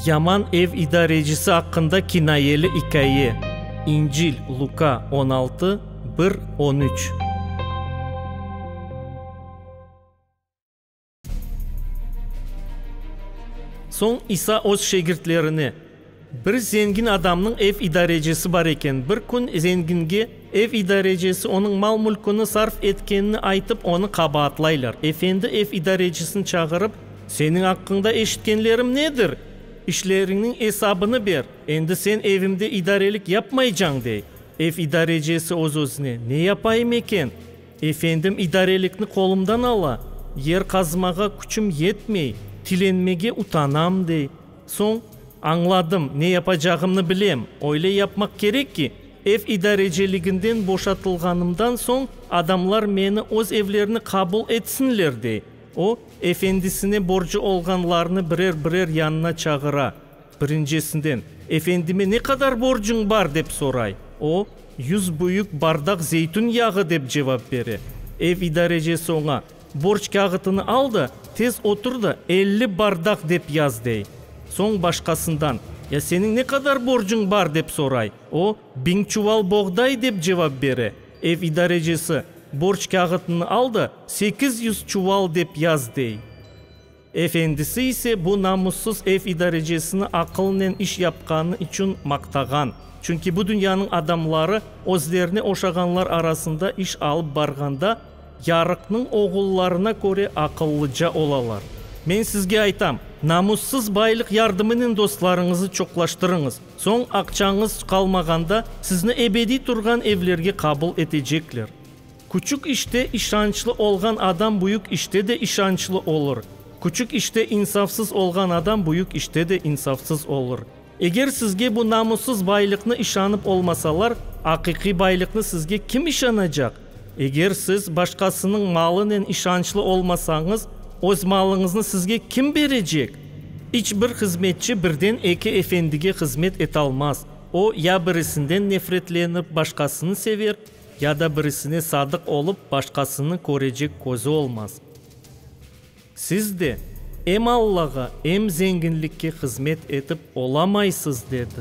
Yaman ev idarecisi aqqında kinayeli ikâye, İncil, Luka, on altı, bir, on üç. Soñ İsa öz şegirtlerine, Bir zengin adamnıñ ev idarecisi bar eken. Bir kün zenginge ev idarecisi onıñ mal-mülküni sarf etkenini aytıp, onı qabaatlaylar. Efendi ev idarecisini çağırıp, Seniñ aqqıñda eşitkenlerim nedir? İşleriñniñ esabını ber, endi sen evimde idarelik yapmaycañ, dey. Ev idarecisi öz-özüne, Ne yapayım eken? Efendim idarelikni qolumdan ala, yer qazmağa küçüm yetmey, tilenmege utanam, dey. Soñ, añladım, ne yapacağımnı bilem, öyle yapmaq kerek ki, ev idareciliginden boşatılğanımdan soñ adamlar meni öz evlerine qabul etsinler, dey. O, efendisine borcu olğanlarnı birer-birer yanına çağıra. Birincisinden, Efendime ne qadar borcuñ bar? dep soray. O, Yüz büyük bardaq zeytün yağı, dep cevap bere. Ev idarecisi oña, Borç kâğıtını al da, tez otur da, elli bardaq dep yaz, dey. Soñ başqasından, Ya seniñ ne qadar borcuñ bar? dep soray. O, Biñ çuval boğday, dep cevap bere. Ev idarecisi, Borç kâğıtını al da, sekiz yüz çuval dep yaz, dey. Efendisi ise bu namussız ev idarecesini aqılnen iş yapqanı içün maqtağan. Çünki bu dünyanıñ adamları özlerine oşağanlar arasında iş alıp barğanda yarıqnıñ oğullarına köre aqıllıca olalar. Men sizge aytam, namussız baylıq yardımınen dostlarıñızı çoqlaştırıñız, soñ aqçañız qalmağanda sizni ebediy turğan evlerge qabul etecekler. Küçük işte işançlı olğan adam büyük işte de işançlı olur, küçük işte insafsız olğan adam büyük işte de insafsız olur. Eger sizge bu namussız baylıqnı işanıp olmasalar, aqiqiy baylıqnı sizge kim işanacaq? Eger siz başqasınıñ malınen işançlı olmasañız, öz malıñıznı sizge kim berecek? İç bir hızmetçi birden eki efendige hızmet etalmaz, o, ya birisinden nefretlenip, başqasını sever, Ya da birisine sadıq olıp, başqasını körecek közü olmaz. Siz de em Allağa, em zenginlikke hızmet etip olamaysız, dedi.